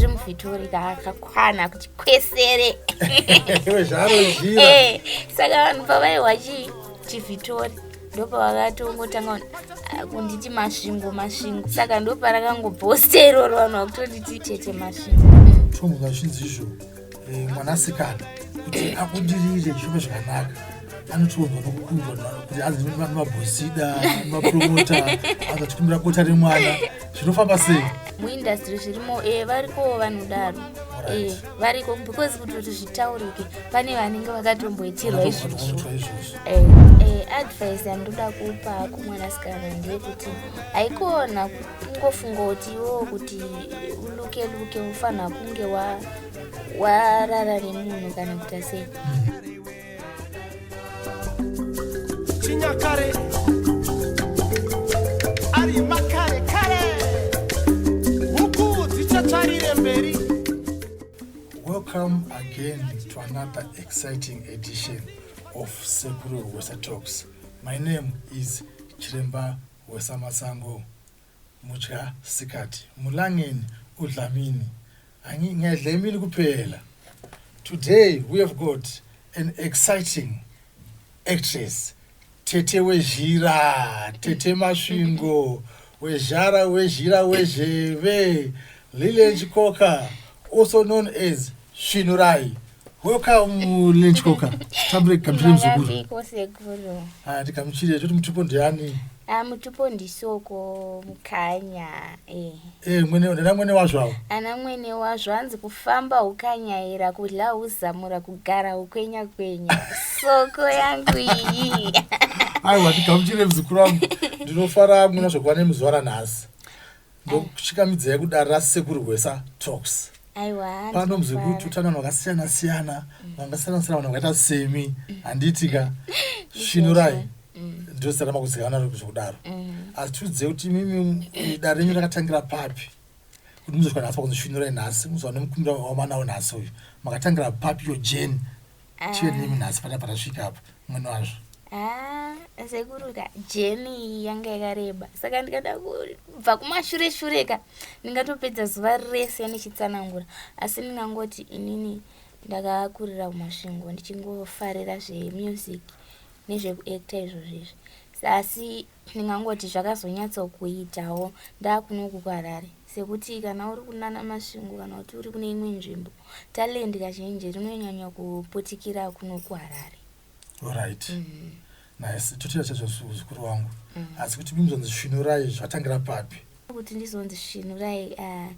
tiri muvhitori kakakwana kuti kwesere eh, saka vanhu pavaiwa chii chivhitori ndopavakatongotanga ah, kunditi masvingo masvingo saka ndoparakangobhosta iroro vanhu vakutonditi tete masvingo masvingo izvo eh, mwanasikana kuti abudirire zvive zvakanaka anotiunzwa nokukundwa kuti hanzi mabhosida mapromota anza tikumbira bota remwana zvinofamba sei muindastry zvirimo eh, variko vanodaro eh, variko because kuti kuti zvitaurike pane vanenge vakatomboitirwa izvozvo eh, advice yandoda kupa kumwanasikana ndeyekuti haikona kungofunga kuti iwo kuti uluke luke ufanira kunge wa warara nemunhu kana kuita sei chinyakare ari makare kare huku dzichatarire mberi welcome again to another exciting edition of sekuru wesa talks my name is chiremba wesamasango Mudya sikati mulangeni udlamini ngedlemini kuphela today we have got an exciting actress tete wezhira tete masvingo wezhara wezhira wezheve Lilian Chikoka, also known as Svinurai. Welcome, Lilian Chikoka. Tambire kamchire mzukuru. Mavambiko sekuru. Ah, tikamchire choti mutupo ndiani? Ah, mutupo ndisoko mukanya. Eh. Eh, mwene ndana mwene wazvo awo. Ana mwene wazvo anzi kufamba ukanyaira kudla uzamura kugara ukwenya kwenya. Soko yangu iyi. Aiwa, tikamchire mzukuru wangu. Ndinofara muna zvokuva nemuzwara nhasi. ndokuchikamidzai kuda rasekuru gwesa talks pano muzvi kuti utano vanhu vakasiyana siyana vangasiyana siyana vanhu vakaita semi handiti ka svinurai mm. ndosara makuzikanwa ri zvekudaro mm. asi tiudzei kuti imimi ida renyu rakatangira papi kuti muzosvika nhasi pakunzi svinurai nhasi muzowane mukumbira wamanawo nhasi uyu makatangira papi yo jeni Ah. chive nemi nhasi panapa tasvika apa mwene wazvo Ah, sekuru ka jeni iyi yanga yakareba saka ndikada kubva kumashure shure ka ndingatopedza zuva rese ndichitsanangura asi ndingangoti inini ndakakurira kumasvingo ndichingofarira zvemusic nezvekuacta izvozvo izvi asi ndingangoti zvakazonyatsokuitawo ndakunoku kuharare sekuti kana uri kunana masvingo kana kuti uri kune imwe nzvimbo Talent kazhinji rinonyanya kuputikira kuno kuHarare. Alright. Mm -hmm. Nice. Totira chacho zvikuru wangu. Mm -hmm. Asi kuti mizonzi svinurai zvatangira papi? Kuti ndizonzi svinurai uh, ah,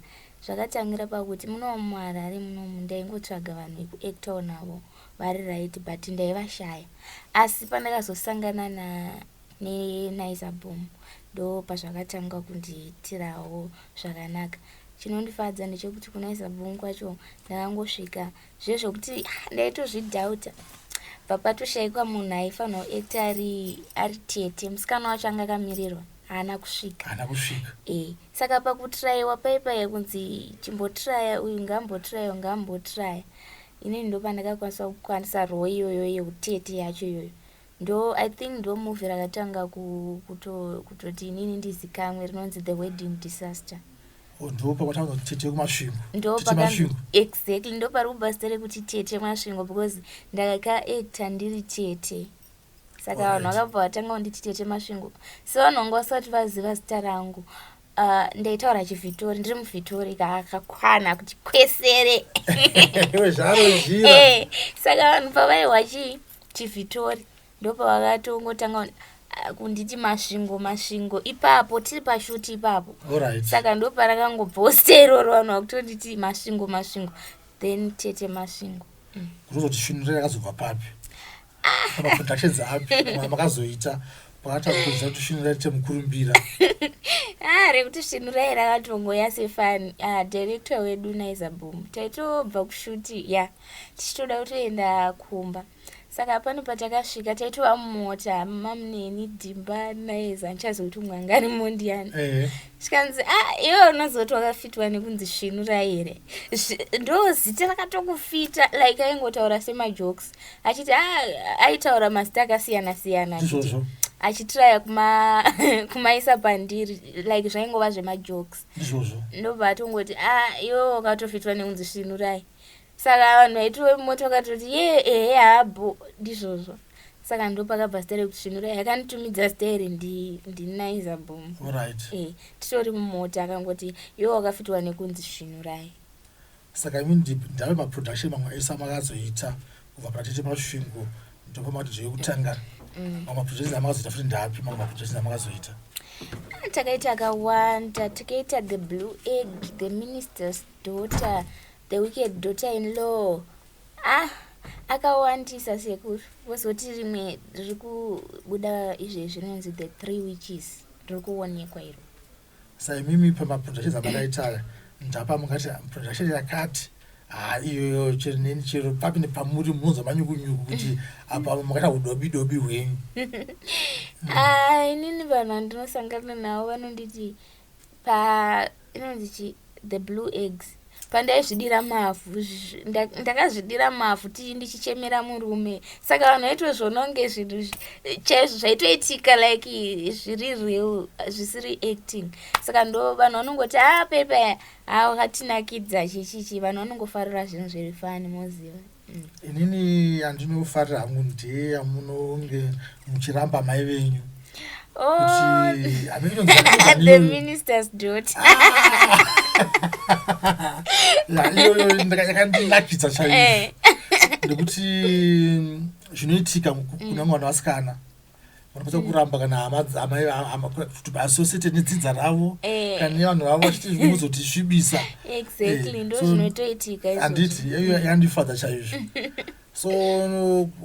zvakatangira pakuti muno muHarare muno ndaingotsvaga vanhu vekuactor navo vari right but ndaivashaya. Asi pandakazosangana na neNaiza Boom ndo pazvakatanga kundiitirawo zvakanaka. Chinondifadza ndechekuti kuna Isabong kwacho ndakangosvika zviye zvekuti ndaitozvidhauta bvapatushaikwa munhu aifanirwa kuekta ari ari tete musikana wacho anga akamirirwa haana kusvika haana kusvika e saka pakutiraiwa paipaiye kunzi chimbotiraya uyu ngambotiraya uyu ngambotiraya inini ndopandakakwanisa kukwanisa roo iyoyo yeutete yacho iyoyo Ndo I think ndo movie rakatanga kuto kutoti inini ndizikamwe rinonzi The Wedding Disaster. Oh, ndo pakwatanga kuti tete kumasvingo. Ndo pamasvingo. Exactly ndo pari kubva zita rekuti tete masvingo because ndakaka actor ndiri tete. Saka vanhu vakabva vatanga kunditi tete masvingo. So vanhu vanga vasati vaziva zita rangu. Uh, ndaitaura chivhitori ndiri muvhitori kakakwana kuti kwesere eh, saka vanhu pavaihwa chii chivhitori ndopavakatongotanga ah, kunditi masvingo masvingo ipapo tiri pashuti ipapo right. saka ndoparakangobvawo steroro vanhu vakutonditi masvingo masvingo then tete masvingo mm. kunozotisvinurira akazobva papi maproductions api makazoita pakatakuza kuti svinura rite mukurumbira ah, rekuti svinura iri akatongoya sefan ah, director wedu naizabom taitobva kushuti ya yeah. tichitoda kutoenda kumba saka pano patakasvika taitova mumota mamuneni dhimba naiza ndichazokuti mwangari mondiyani eh. zvikanzi a ah, iwe unozoti wakafitwa nekunzi svinura here ndo zita rakatokufita like aingotaura semajokes achiti ah, aitaura mazita akasiyana siyana ndizvozvo achitiraya kuma kumaisa pandiri like zvaingova zvemajokes ndizvozvo ndobva atongoti a ah, iwo ukatofitwa nekunzi svinurai saka vanhu vaitove mumota vakatoti ye ehe habo ndizvozvo saka ndopakabva zita rekuti svinurai akanditumidza zita iri ndinaiza bom right. e eh, titori mumota akangoti iwo wakafitwa nekunzi svinurai Saka imi ndip ndave maproduction mamwe aisa makazoita kubva patete masvingo ndopa matidzo yekutanga mm. mamwe maproductions amakazoita futi ndapi mamwe maproductions amakazoita ah, takaita akawanda takaita the blue egg the minister's daughter the wicked daughter in law ah akawandisa sekuru vozoti rimwe riri kubuda izvezvi rinonzi the three witches riri kuonekwa iro saimimi pamaproductions amakaita aya ndapa mungati production yakati haa iyoyo cherinini chero papi nepamuri munonzwa manyukunyuku kuti apa makaita udobi dobi hwenyu ah, inini vanhu vandinosangana navo vanonditi pa inonzi chii the blue eggs pandaizvidira mavhu ndakazvidira mavhu tii ndichichemera murume saka vanhu vaitozvononge zvinhu chaizvo zvaitoitika like zviri real zvisiri acting saka ndo vanhu vanongoti a ah, pepa hatinakidza chichichi vanhu vanongofarira zvinhu zviri fani moziva inini yandinofarira hangu ndeyamunonge muchiramba mai venyu oh. yakandinakidza chaio eh. nekuti zvinoitika kuna mwana wasikana vanokwanisa kuramba kana hamaasosete nedzidza ravo eh. kana nevanhu vavo vachitimozotisvibisa anditi yandifadza chaizvo so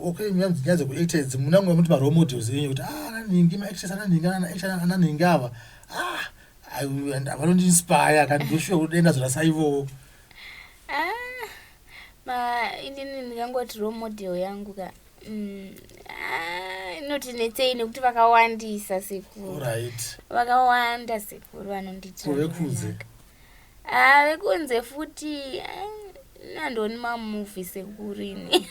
okay nyaya dzekuacta idzi munangu vamuti marole models enyu kuti ah, ananhingi maactas ananhingi ananhingi ava ah, vanondiinspire kani ndoshuwa kuti denda zvorasaivowo ah, inini ndingangoti role model yangu ka Mm, ah, inoti netsei nekuti vakawandisa sekuru right vakawanda sekuru vanondiitira kuve kunze zvakanaka. Ah, vekunze futi ah, nandioni mamuvi sekuru ini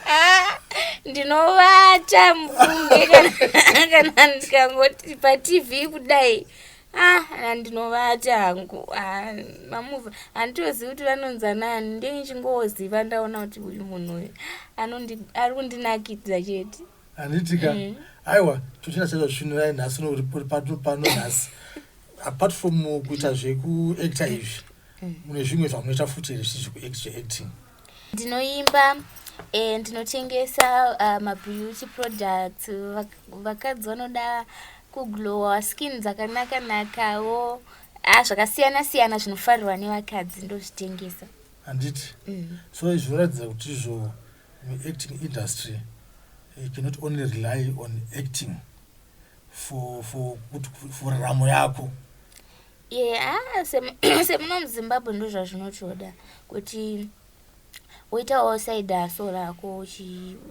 Ah, ndinovata mufunge kana- kana ndikangoti patv kudai ah andinovati hangu ah, mamuva handitozivi kuti vanonza nani ndini chingoziva ndaona kuti uyu munhu uyu ari kundinakidza chete handitika mm. aiwa tochina chaita zvichinurai nhasi nouri pano pano nhasi apart from kuita zvekuacta izvi mm. mune zvimwe zvamunoita futi here zvichizvekuacting ndinoimba eh, ndinotengesa uh, mabeauty products vakadzi vanoda kuglowa skin dzakanaka nakawo ah, zvakasiyana siyana zvinofarirwa nevakadzi ndozvitengesa handiti mm. so izvinoratidza kuti izvo muacting industry you cannot only rely on acting for for kuti for ramo yako ye ah, semuno muzimbabwe ndo zvazvinotoda kuti woitawo side haso rako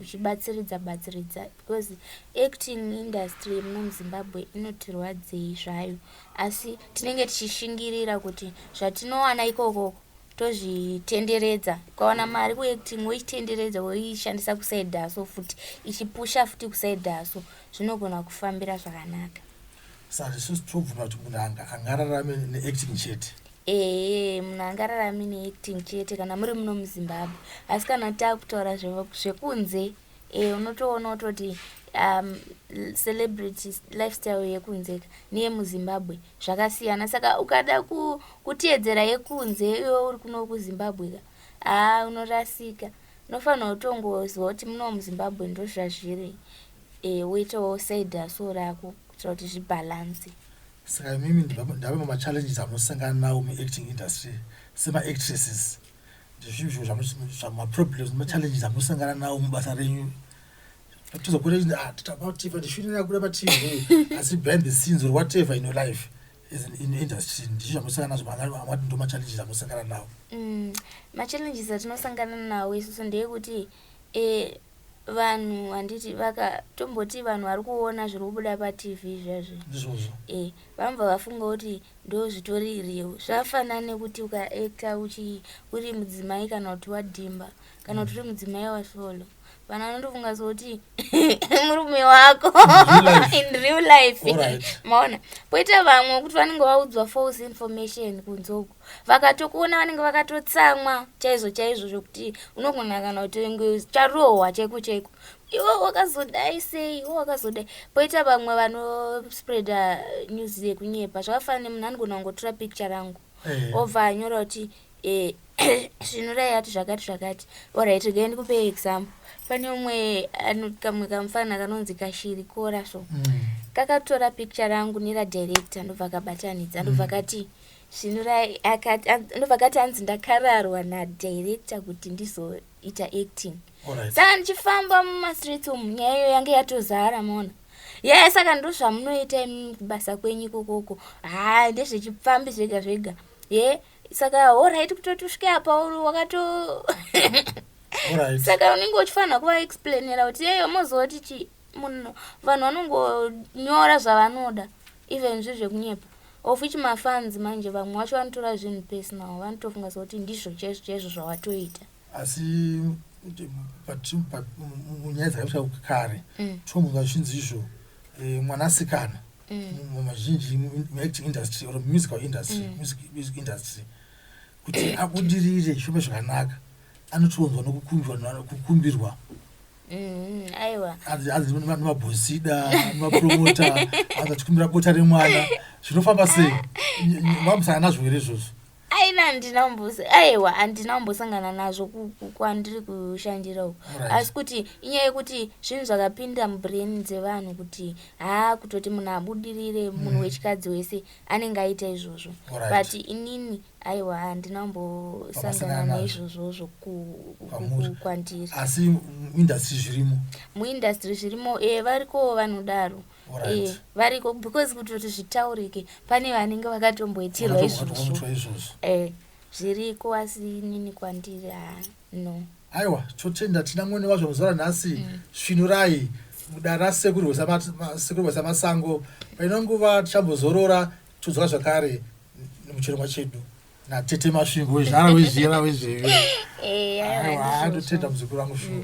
uchibatsiridza batsiridza because acting industry yemuno muzimbabwe inotirwadzei zvayo asi tinenge tichishingirira kuti zvatinowana ikokoko tozvitenderedza ukawana mari kuacting woitenderedza woishandisa kuside haso futi ichipusha futi kuside haso zvinogona kufambira zvakanaka saka isusu tobvuma kuti munhu angararame neacting chete ee munhu angararame neacting chete kana muri muno muzimbabwe asi kana takutaura zvekunze e, unotoona kutoti um, celebrity lifestyle yekunzeka neyemuzimbabwe zvakasiyana saka ukada ku, kutiyedzera yekunze iyo uri kuno kuzimbabwe ka haa unorasika unofanirwa kutongoziva kuti muno muzimbabwe ndozvazviri e, woitawo side haso rako kuitira kuti zvibhalanse saka imimi ndave mamachallenges amusangana nawo muacting industry semaactresses Ndezvii izvo zvamuzvi- maproblems machallenges amusangana nawo mubasa renyu tizokure chinzi ah tita pativa ndishwiro yakuda patv asi behind the scenes or whatever in your life as an in industry ndizvo zvamusangana nazvo manga- amati ndo machallenges amusangana nawo Mm, machallenges atinosangana nawo isusu ndeyekuti eh, vanhu handiti vaka tomboti vanhu vari kuona zviri kubuda patv zvazvo ndizvozvo e vanobva vafunga kuti ndo zvitori real zvafanana nekuti ukaekta uchi uri mudzimai kana kuti wadhimba kana kuti uri mudzimai wasolo vanhu vanotofunga sokuti murume wako in real life maona poita vamwe kuti vanenge vaudzwa false information kunze uku vakatokuona vanenge vakatotsamwa chaizvo chaizvo zvekuti unogona kana kuti charohwa chaiko chaiko iwe wakazodai sei iwe wakazodai poita vamwe vanospreada news yekunyepa zvakafanana nemunhu anogona kungotora picture rangu eh. obva anyora kuti eh, svinurai ati zvakati zvakati orit regai ndikupe example pane umwe kamwe kamufana kanonzi kashiri kora so mm. kakatora picture rangu neradirector ndobva kabatanidza ndobva mm. kati mm. Svinurai akati an- ndobva akati hanzi ndakararwa nadirector kuti ndizoita acting Alright. saka ndichifamba mumastreets umu nyaya iyo yange yatozara maona yaya saka ndo zvamunoita imi kubasa kwenyu ikokoko haa ndezvechipfambi zvega zvega ye saka horaiti kutoti usvike apa uri wakato Alright. saka unenge uchifanira kuvaexplainera kuti yeyo mozoti chi munhu vanhu vanongonyora zvavanoda even zvi zvekunyepa Of which ma fans manje vamwe wacho vanotora zvinhu personal vanotofunga sekuti ndizvo chaizvo chaizvo zvawatoita. Asi munyaya dzakaita kare mm. tomuka zvinzi izvo eh, mwanasikana mm. mazhinji muacting industry or musical industry mm. music industry kuti abudirire shome zvakanaka anotionzwa nokukumbirwa mm-hmm. aiwa anzi nemabhosida nemapromota anzi achikumbira bota remwana zvinofamba sei vamusana nazvo here izvozvo aina handina mbusi aiwa handina mbosangana nazvo kwandiri kushandira uku asi kuti inyaya yekuti zvinhu zvakapinda mubrain dzevanhu kuti haa kutoti munhu abudirire munhu mm. wechikadzi wese anenge aita izvozvo but inini aiwa handina kumbosangana naizvozvozvo kwandiri asi muindustry zvirimo muindustry zvirimo e varikowo vanodaro e variko because kuti kuti zvitaurike pane vanenge vakatomboitirwa izvozvo e zviriko asi inini kwandiri haa No. Aiwa totenda tina mwene wazvo mazuva ranhasi mm. svinurai mudara sekuru wesa masango paino nguva tichambozorora todzoka zvakare muchirongwa chedu natete masvingo wezvara wezvira wezveve eh, aiwa ndotenda muzukuru wangu shuwa mm.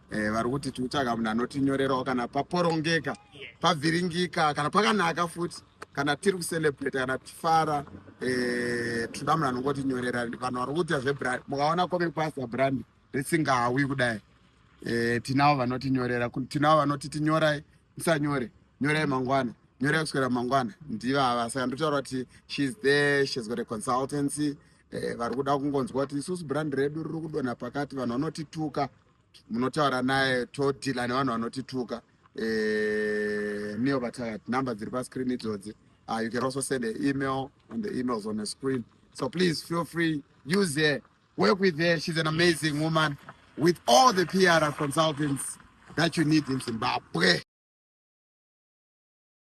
Eh, vari kuti tikutsvaga munhu anotinyorerawo kana paporongeka pavhiringika kana pakanaka futi kana tiri kucelebrate kana tifara eh, tinoda munhu anongotinyorera vanhu vari kuita zvebrand mukaona komepasa brand risingawi kudai eh, tinavo vanotinyorera tinavo vanoti tinyorai musanyore nyorai mangwana nyorai kuswera mangwana ndivava saka ndotaura kuti shes there shes got a consultancy eh, vari kuda kungonzwa kuti isusu brand redu riri kudonha pakati vanhu vanotituka munotaura naye todhila nevanhu vanotituka eh, neo vatakat number dziri pascreen idzodzi uh, you can also send an email and the emails on the screen so please feel free use her work with her she's an amazing woman with all the pr consultants that you need in zimbabwe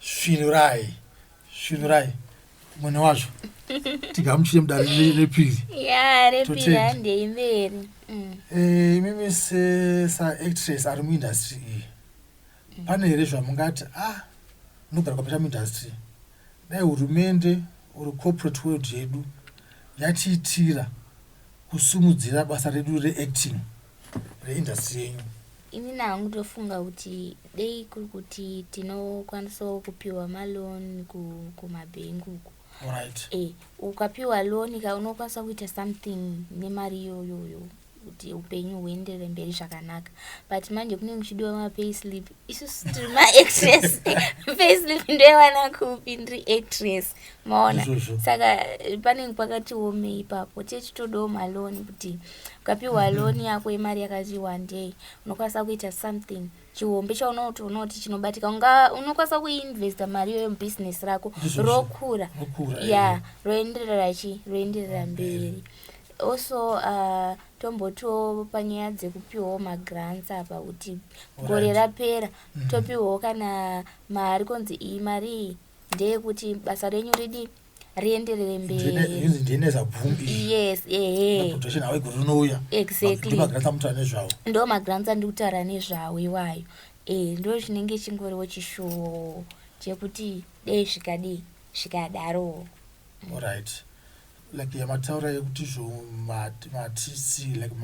svinurai svinurai mwene wazvo tigamuchire mudare re- repiri ya repiri Totenda. handei mberi Mm. Eh, imimi se- saactress ari muindustry iyi pane here zvamungati ah unogara kwapeta muindustry dai hurumende or corporate world yedu yatiitira kusimudzira basa redu reacting reindastry yenyu ini nangu ndofunga kuti dei kuri kuti tinokwanisawo kupiwa maloan kumabhengi uku right. e, eh, ukapiwa loan ka unokwanisa kuita something nemari iyoyoyo kuti upenyu huendere mberi zvakanaka but manje kunenge kuchidiwa mapay slip isusu tiri maactress facelift ndoiwana kupi ndiri actress maona saka panenge pakati wome ipapo chie chitodawo maloni kuti ukapiwa mhm. loni yako yemari yakati wandei unokwanisa kuita something chihombe chaunoti unoti chinobatika unga unokwanisa kuinvesta mari iyoyo mubusiness rako rokura ya roenderera chi roenderera mberi Also tombotiwo panyaya dzekupiwawo magrants apa kuti gore rapera mm. topiwawo kana mari konzi iyi mari iyi ndeyekuti basa renyu ridii rienderere mberiyes ndo magrants andikutaura nezvawo iwayo e ndo chinenge chingoriwo chishuwo chekuti dei zvikadii zvikadarowo right like yamataura yekuti zvo matc like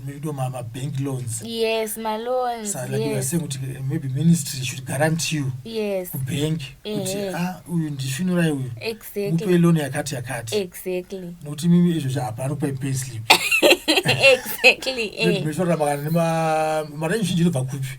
mekuitwa mabank loans yes maloans so, like yes. saying kuti eh, maybe ministry should garant you yes. kubank kuti eh, eh. ah, uyu ndisvinurai uyu exactly. mupe loan yakati yakati exactly. nokuti mimi izvo zvaapano kupai pay slip exactly. eh. meshorora makana nemaranyi zhinji inobva kupi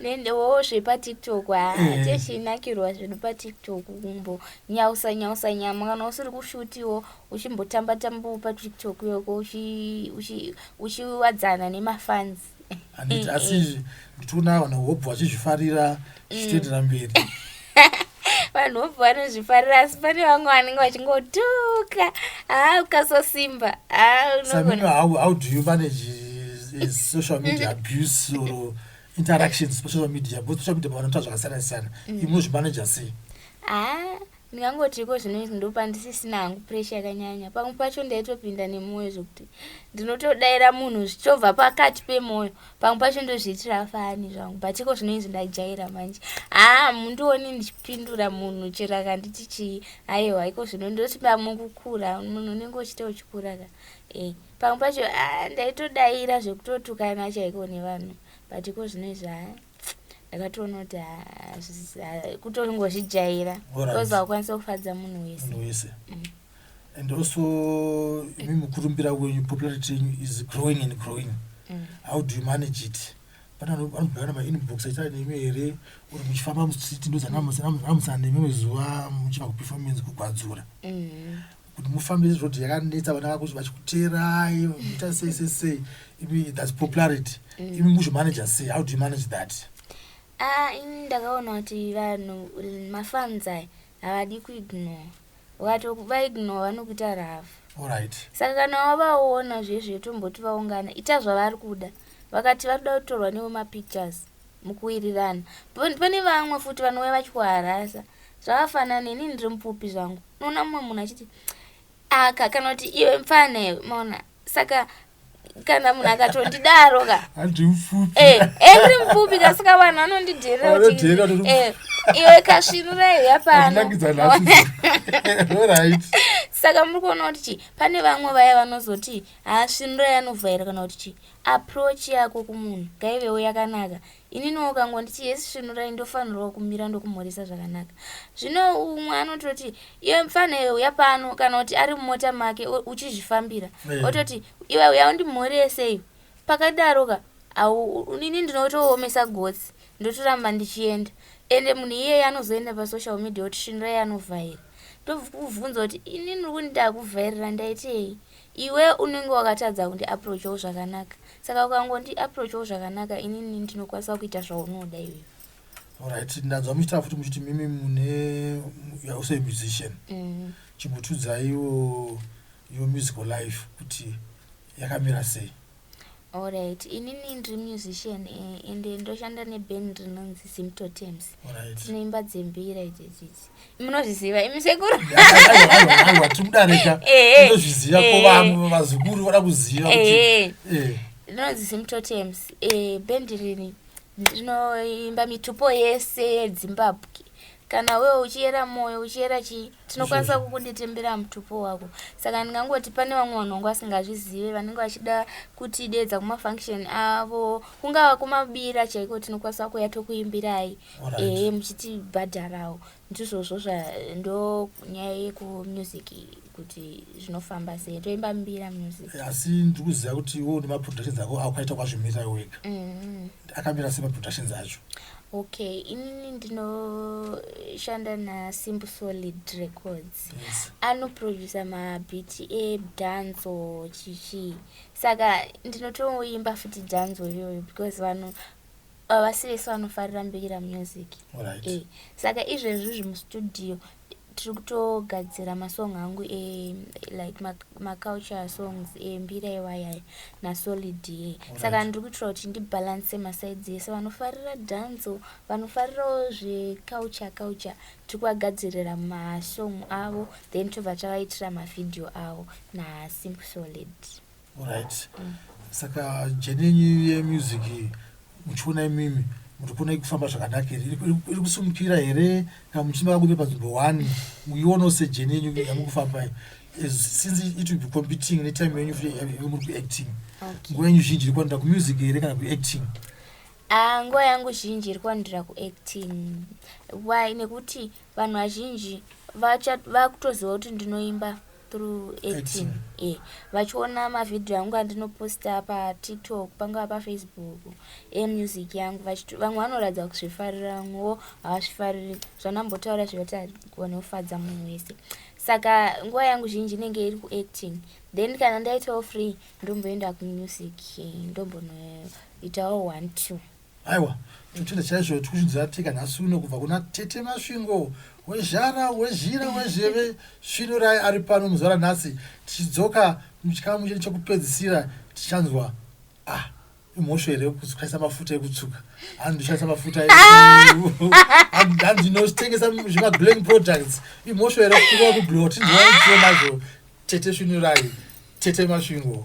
nendewo zvepatiktok hateshinakirwa eh. zvedu patiktok kumbo nyausa nyausa nyama kana usiri kushutiwo uchimbotamba tambawo patiktok yoko uchiwadzana nemafans asi nditikuona vanhu hobva vachizvifarira zvichitoenderera mberi vanhu vobva vanozvifarira asi pane vamwe vanenge vachingotuka haa ah, ukasosimba haaumanagessocial eh, media mm. abuse or interactions pasocial media both social media pavanoita zvakasiyana siyana mm. imwe zvimanage sei ah, Ndingangoti iko zvino izvi ndopa ndisisina hangu pressure yakanyanya. Pamwe pacho ndaitopinda nemwoyo zvekuti ndinotodaira munhu zvichobva pakati pemwoyo. Pamwe pacho ndozviitira fani zvangu but iko zvino izvi ndajaira manje. Haa mundioni ndichipindura munhu chero akanditi chii. Haiwa iko zvino ndoti pamwe kukura munhu unenge uchita uchikura ka. Eh pamwe pacho ah ndaitodaira zvekutotukana chaiko nevanhu but iko zvino izvi haa. ndakatoona kuti kutongozvijaira bcause haukwanisa kufadza munhu wese wese mm. and also imi mukurumbira wenyu popularity yenyu is growing and growing mm. how do you manage it pane vanobhuyana mainbox aita nemi here uri muchifamba mustreet ndozanamusana nemimwe zuva muchiva kuperformance kugwadzura mm. kuti mufambe izvod yakanetsa vana vako vachikuteerai muita sei sei sei imi thats popularity mm. imi muzvimanager sei how do you manage that ah, ini ndakaona kuti vanhu mafans aya havadi kuignore ukatobaignore vanokuita rafu orit saka kana wavaona zvezve tomboti vaungana ita zvavari kuda vakati vari kuda kutorwa nevo mapictures mukuwirirana But pane vamwe futi vanouya vachikuharasa zvakafanana neni ndiri mupfupi zvangu unoona mumwe munhu achiti aka kana kuti iwe mfana iwe maona saka kana munhu akatondidaro ka eh, eh, ndiri mupfupi ka saka vanhu vanondidherera kuti eh, iwe kasvinura iuya pano saka muri kuona kuti chii pane vamwe vaya vanozoti haasvinura yanovhaira kana kuti chii Approach yako kumunhu ngaivewo yakanaka. Ininiwo ukangonditi yes svinurai ndofanirwa kumira ndokumhoresa zvakanaka. Zvino umwe anototi iwe mfana iwe uya pano kana kuti ari mumota make uchizvifambira eh. ototi iwe uya undimhorese iwe. Pakadaro ka ini ndinotoomesa gotsi ndotoramba ndichienda ende munhu iyeye anozoenda pasocial media kuti svinurai anovhaira. Ndobvunza kuti inini uri kundida kuvhairira ndaitei? Iwe unenge wakatadza kundi approachawo zvakanaka saka ukangondi approachawo zvakanaka inini ndinokwanisa kuita zvaunoda iwewe Alright, ndanzwa muchitaura futi muchiti mimi mune you are also a musician. mm. Chimbotiudzaiwo your musical life kuti yakamira sei. Alright, inini ndiri musician eh, and ndoshanda neband rinonzi Symptotems. Alright. Tinoimba dzembira idzi idzi idzi. Munozviziva imi sekuru? Aiwa tikudarika. Eh, eh. Ndozviziva ko vamwe vazukuru vada kuziva kuti. Eh. eh. Rinonzi Symptotems. Eh, band rini ndinoimba mitupo yese yedzimbabwe kana wewe uchiyera moyo uchiyera chii tinokwanisa kukundetembera mutupo wako saka ndingangoti pane vamwe vanhu vangu vasingazvizive vanenge vachida kuti deedza kumafunction avo kungava kumabira chaiko tinokwanisa kuya tokuimbirai ehe muchitibhadharawo ndizvozvo zvando nyaya yekumusic kuti zvinofamba sei toimba mbira music asi ndiri kuziva kuti wo nemaproductions ako akukaita kwazvimirira wega mm-hmm. akamira sei maproductions acho okay inini ndinoshanda nasimple solid records yes. anoproducer mabhiti edanzo chichii saka ndinotoimba futi danzo iyoyo because vanhu havasi vese vanofarira mbira music right. e. saka izvezvi zvimustudio tiri kutogadzira masong angu e like maculture songs embira e iwaya nasolid e saka ndiri kuitira kuti ndibhalanse masides ese vanofarira danso vanofarirawo zveculture culture tiri kuvagadzirira masong avo then tobva tavaitira mavhidhiyo avo nasimple solid Alright. Saka jeni yenyu yemusic muchiona imimi muri kuona ikufamba zvakanaka here Iri- iri- iri kusimukira here kana muchimaka kuve panzvimbo one muionawo sejeni yenyu yamuri kufamba iyi. As- since it will be competing netime yenyu futi yave- yamuri kuacting Okay. nguva yenyu zhinji iri kuwandira kumusic here kana kuacting Ah, nguva yangu zhinji iri kuwandira kuacting why nekuti vanhu vazhinji vacha- vakutoziva kuti ndinoimba through 18 e vachiona mavhidhiyo angu andinoposta patiktok pangava pafacebook emusic yangu vamwe vanoratidza kuzvifarira vamwewo havazvifariri zvanambotaura zvekuti agone kufadza munhu wese saka nguva yangu zhinji inenge iri kuacting then kana ndaitawo free ndomboenda kumusic ndombonoitawo one two Aiwa, ndinochida chaizvo kuti kusvunzi yatika nhasi uno kubva kuna Tete Masvingo wezhara, wezhira, wezheve svinurai ari pano muzuva ranhasi tichidzoka muchikamu chedu chekupedzisira tichanzwa ah imhosho here kushandisa mafuta ekutsuka hanzi ndoshandisa mafuta hanzi ndinotengesa zvemaglang products imhosho here kuaa kuglowa tinzwaaiio nazvo tete svinurai tete masvingo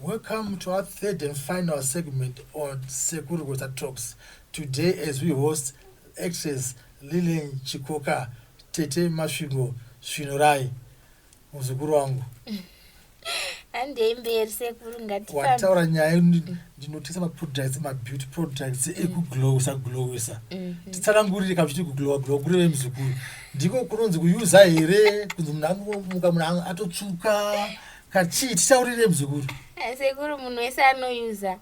Welcome to our third and final segment on Sekuru Gweta Talks. Today as we host actress Lillian Chikoka, Tete Masvingo Svinorai, muzukuru wangu. Handei mberi sekuru ngati. Wataura nyaya ndinotisa ma products ma beauty products mm. ekuglowisa glowisa. Mm -hmm. Titsanangurire kana kuti kuglowa glowa kureve muzukuru. Ndiko kunonzi kuyuza here kunzi munhu angomuka munhu atotsvuka. kachii titaurire mzukuru eh, sekuru munhu wese anoyuza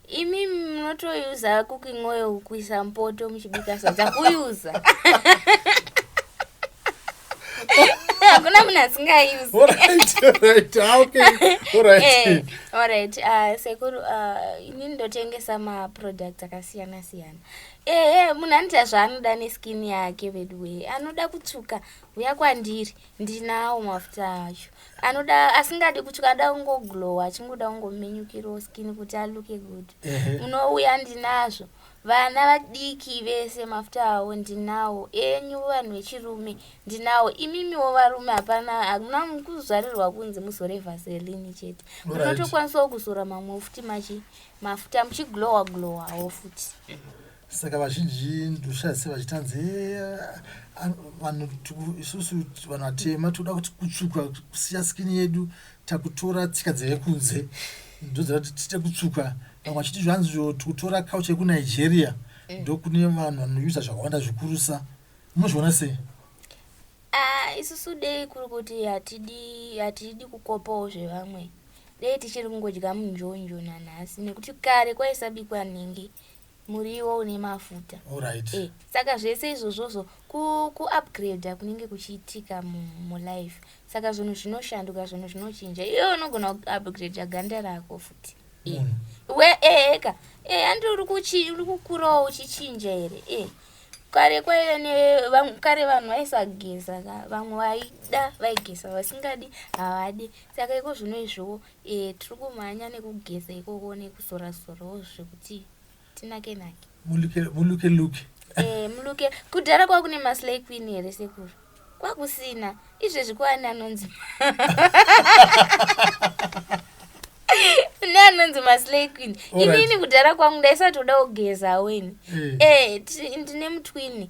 imi munotoyuza cooking oil kuisa mpoto muchibika sadza kuyuza hakuna munhu asingayuzi orit eh, ah, sekuru ah, ini ndotengesa maproducts akasiyana siyana ehe eh, munhu anoita zvaanoda neskin yake veduwee anoda kutsvuka huya kwandiri ndinawo mafuta acho anoda asingadi kuti kada kungoglowa achingoda kungominyukirawo skin kuti aluke good unouya ndinazvo vana vadiki vese mafuta awo ndinawo enyu vanhu vechirume ndinawo imimiwo varume hapana hakuna kuzvarirwa kunzi muzore vaselini chete munotokwanisawo kuzora mamwe futi machi mafuta muchiglowa glowawo futi saka vazhinji ndoshaise vachitanzi eh, vanhu isusu vanhu vatema tikuda kuti kutsvuka kusiya skini yedu takutora tsika dzevekunze ndoziva kuti tiite kutsvuka vamwe vachiti zvanzi zvo tikutora couch yekunigeria eh. ndokune vanhu vanoyuza zvakawanda zvikurusa munozviona sei ah, isusu dei kuri kuti hatidi kukopawo zvevamwe dei tichiri kungodya munjonjo nanhasi nekuti kare kwaisabikwa nhingi muriwo une mafuta right. e, saka zvese izvozvozvo kuupgrader ku kunenge kuchiitika mulife mu saka zvinhu zvinoshanduka zvinhu zvinochinja iwe unogona kuupgrader ganda rako futi e. mm. we eheka e, handi uri kukurawo uchichinja here e. kare kwaive nekare vanhu vaisageza ka vamwe vaida vaigeza vasingadi havadi saka iko zvino izvowo Eh tiri kumhanya nekugeza ikoko nekuzora zorawo zvekuti tinake nake. Muluke muluke luke. Eh muluke kudhara kwa kune maslay queen here sekuru? Kwakusina izvezvi kwaani anonzi. ne anonzi maslay queen inini kudhara kwangu ndaisatoda kugeza weni eh, eh ndine mutwini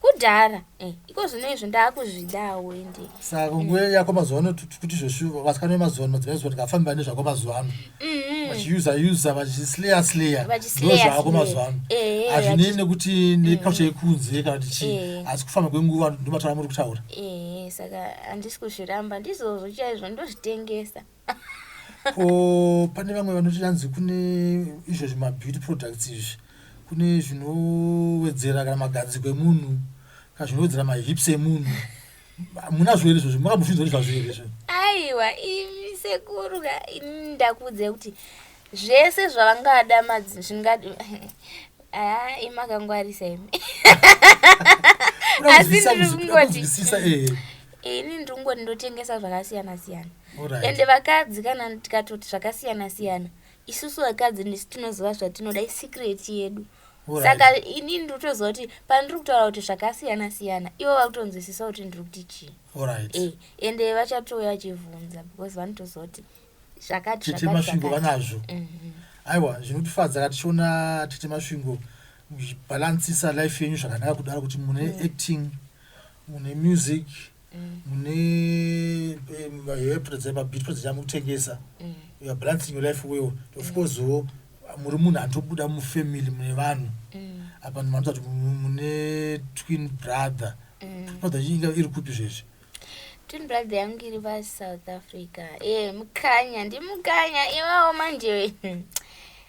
kudhara eh, iko zvino izvo ndaakuzvidawo ende saka nguva mm. yako mazuva ano kuti zveshuva vasikana vemazuva ano madzimai zuva tikafamba nezvako mazuva ano mm-hmm. vachiusa usa vachisleya sleya ndozvako mazuva ano eh, hazvinei nekuti nekacha mm. yekunze kana kuti chii eh. asi kufamba kwenguva ndomataura muri kutaura saka handisi kuzviramba ndizvozvo chaizvo ndozvitengesa ko pane vamwe vanoti yanzi kune izvo zvimabeauty products izvi kune zvinowedzera kana magadziko emunhu kana zvinowedzera mahips emunhu munazvo here izvozvo makambozvinzwa nezvazvo here izvo aiwa imi sekuru ka ini ndakuudzai kuti zvese zvavangada madzi zvinga aa imi akangwarisa imi asi ndiri kungoti Kuda kunzwisisa, eh. ini ndiri kungoti ndotengesa zvakasiyana siyana Alright. ende vakadzi kana tikatoti zvakasiyana siyana isusu vakadzi ndisu tinoziva zvatinoda isecret yedu Alright. saka ini ndikutoziva kuti pandiri kutaura kuti zvakasiyana siyana ivo vari kutonzwisisa kuti ndiri kuti chii Alright. Eh, ende vachatouya vachivhunza because vanotoziva kuti zvakati tete zvakati, masvingo zvakati. vanazvo Mhm. aiwa zvinotifadza ka tichiona tete masvingo muchibhalansisa life yenyu zvakanaka kudaro kuti mune acting mune music mune hepredza mabitpo dzichamutengesa youare balancing your life well of course wo muri munhu anotobuda mufamily mune vanhu apa ndimanoita kuti mune twin brother brother inga iri kupi zvezvi twin brother yangu iri vasouth africa e mukanya ndimukanya iwawo manje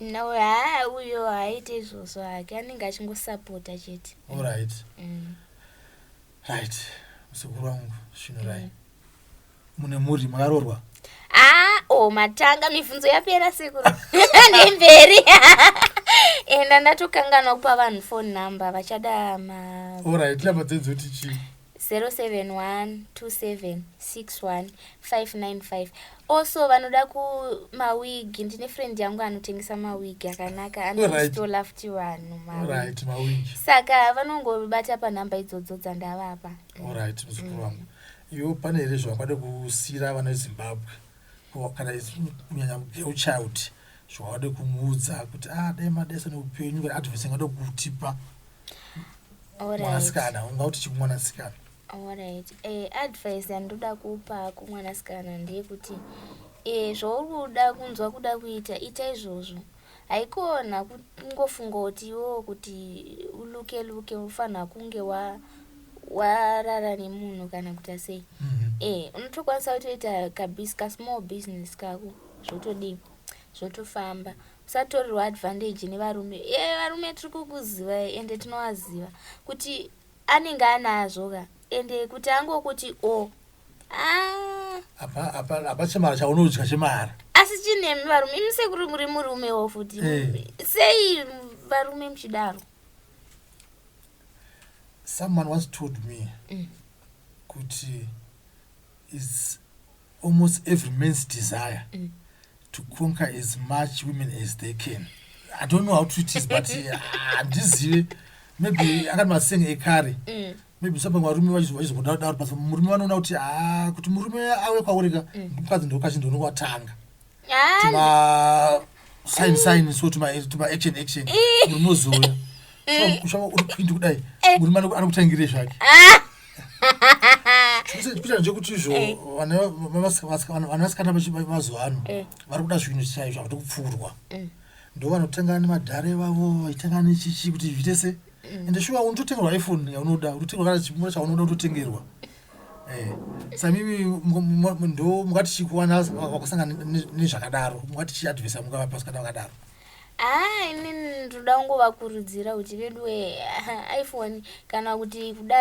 No, haa uyo haaite izvozvo hake anenge achingosapota chete. Alright. Mm. Right. Muzukuru wangu Svinurai. Mm. Mune mhuri makarorwa? Ah, oh matanga mibvunzo yapera sekuru. Nemberi. Enda ndatokanganwa kupa vanhu phone number vachada ma Alright, lava dzedzoti chii? 0712761595 also vanoda ku mawig ndine friend yangu anotengesa mawig akanaka anostola futi vanhu saka vanongobata panhamba idzodzo dzandavapa iwo pane here zvavangade kusiyira vana vezimbabwe Ko kana isu kunyanya girl child zvawade kumuudza kuti ah dai madaisa neupenyu kana advice ingade kutipa mwanasikana ungauti chii kumwanasikana Alright. Eh, advice yandoda kupa kumwanasikana ndeyekuti eh, zvauri kuda kunzwa kuda kuita ita izvozvo haikona kungofunga kuti iwewo kuti uluke luke unofanira kunge warara wa nemunhu kana kuita sei mm -hmm. e eh, unotokwanisa kutoita kabis kasmall business kako zvotodii zvotofamba usatorerwa advantage nevarume e eh, varume tiri kukuziva ende tinovaziva kuti anenge anazvo ka ende kuti angokuti o oh, Ah. Apa apa apa chemara chaunodya chemara. Asi chinemi varume imi sekuru muri murume wo futi. Eh. Sei varume mchidaro? Someone once told me mm. kuti is almost every man's desire mm. to conquer as much women as they can. I don't know how true it is but handizive. Uh, maybe akati masengi ekare mm. maybe sapa varume vachizongodaro daro but murume vanoona kuti haa ah, kuti murume ave kwauri ka eh. mukadzi ndokachi ndononga watanga tima sign sign so tima tima action action eh. murume ozouya ushava uri pindi kudai eh. murume anokutangire zvake ah. kuita nje kuti izvo vanasikana vemazuva ano vari kuda zvinhu chaizvo havadi kupfuurwa ndo vanotanga nemadhare vavo vaitanga nechichi kuti zviite sei ende shuwa unototengerwa iphone yaunoda unotengerwa kana chimura chaunoda unototengerwa eh, samimi ndo mungati chikuwana wakusangana nezvakadaro mungati chiadvisa mungavapasi kana vakadaro haa ini ndoda kungovakurudzira kuti veduwe iphone kana kuti kuda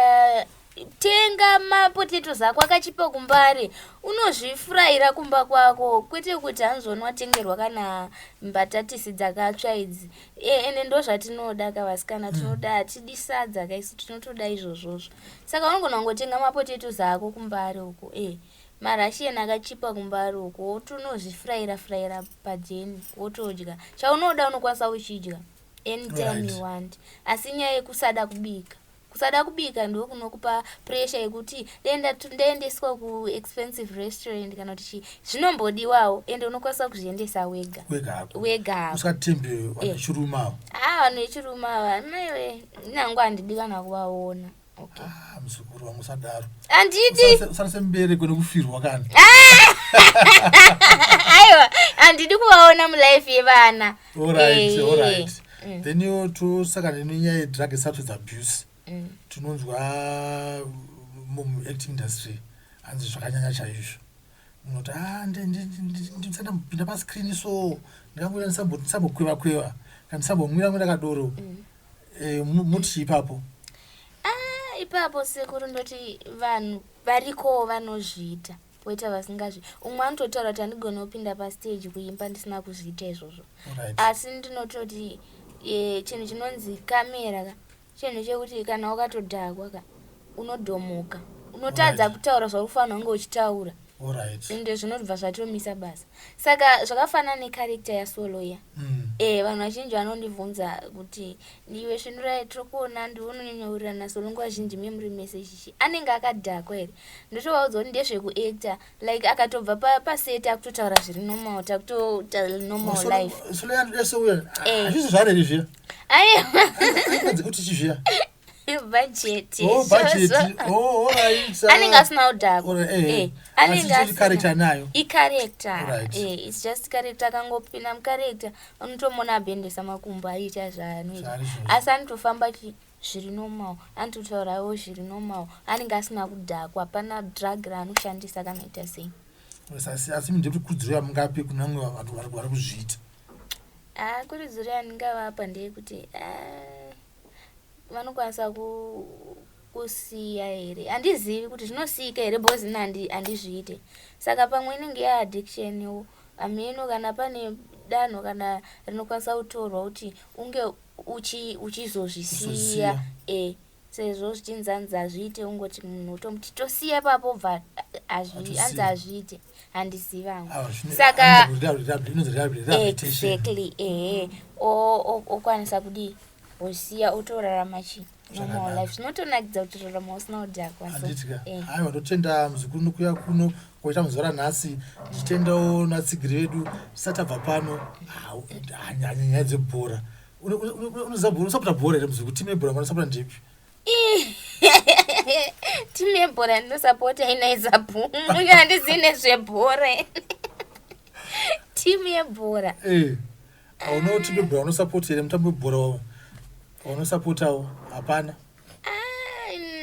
tenga mapotatoes ako akachipa kumbare unozvifuraira kumba kwako kwete kuti hanzi wanowatengerwa kana mbatatisi dzakatsva idzi e, ende ndo zvatinoda ka vasikana tinoda hmm. hatidi sadza kaisu tinotoda izvozvozvo saka unogona kungotenga mapotatoes ako kumbare uko e marashian akachipa kumbare uko wotonozvifuraira furaira pajeni wotodya chaunoda unokwanisa uchidya anytime right. you want asi nyaya yekusada kubika Kusada kubika ndiko kunokupa pressure yekuti dai ndatu- ndaendeswa ku expensive restaurant kana kuti chii. Zvinombodiwawo ende unokwanisa kuzviendesa wega. wega hako Wega hako. usatembe Eh. vanechiruma avo Ah, vanhu vechirume ava maiwe nyangu handidi kana kuvaona. Okay. Ah, muzukuru wangu usadaro Handidi. Usarase- usarase mubereko nekufirwa kana Aiwa, handidi kuvaona mulife yevana. Alright, Eh, alright. mm. then yo tosaka nenyaya yedrag substance abuse mm. tinonzwa muacting industry hanzi zvakanyanya chaizvo munoti ah, ndisandambopinda pascreen so ndingangoita ndisambokweva kweva kana ndisambomwira mwira kadoro mm. eh, muti ipapo ah, ipapo sekuru ndoti vanhu varikowo vanozviita weta vasingazvi umwe anototaura kuti handigone kupinda pastage kuimba ndisina kuzviita izvozvo asi ndinototi e, chinhu chinonzi kamera ka chinhu chekuti kana wakatodhakwa ka unodhomoka unotadza kutaura zvaufanira kunge uchitaura ende zvinobva zvatomisa basa saka zvakafanana necarecta yasoloya mm. e vanhu vazhinji vanondibvunza kuti ndiwe svinuraye tiri kuona ndiwe unonyanyaurirana solo nguva zhinji memuri mese chichi anenge akadhakwa here ndotovaudza kuti ndezvekuactor like akatobva paseti akutotaura zviri normal takutoita normal lifeazvisi zvareri zviya aeazi kuti chi zviya anenge asina kudhakoanearecta nayo icarecta its just carecta akangopinda mucarecta unotomona abendesa makumbo aita zvaanoita asi anotofamba zviri normal anti kutaurawo zviri normal anenge asina kudhakwa hapana drug raanoshandisa kana ita sei asi asi ndiri kurudziro yamungape kune vamwe vanhu vari vari kuzviita ah kurudziro yandingavapa ndeyekuti ah, vanokwanisa ku kusiya here handizivi kuti zvinosiyika here because ini handi- handizviite saka pamwe inenge yaaddiction yo hameno kana pane danho kana rinokwanisa kutorwa kuti unge uchizozvisiya e sezvo zvichinzi anzi hazviite ungoti munhu utomuti tosiya ipapo bva anzi hazviite handiziva hangu ah, saka exactly ehe okwanisa kudii osiya otorarama chii zvinotonakidza kuti rarama usina kudhakwaanditika eh. haiwa ndotenda muzukuru nokuya kuno kwaita muzora nhasi ndichitendawo natsigiri vedu tisati abva pano nyaya dzebhora unoziva bhora usapota bhora here muzukuru timu yebhora manosapota ndepi timu yebhora yandinosapota inaizapu uyo handizii nezvebhora timu yebhora eh. hauna kuti bebhora unosapota here mutambo webhora wavo waunosapotawo hapana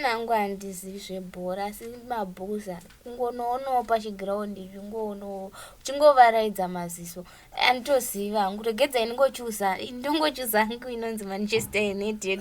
nangu handizivi zvebhora asi mabhuza kungonoonawo pachigiraundi zvingoonawo uchingovaraidza maziso anditoziva hangu regedza ini ngochuza ndongochuza hangu inonzi manchester united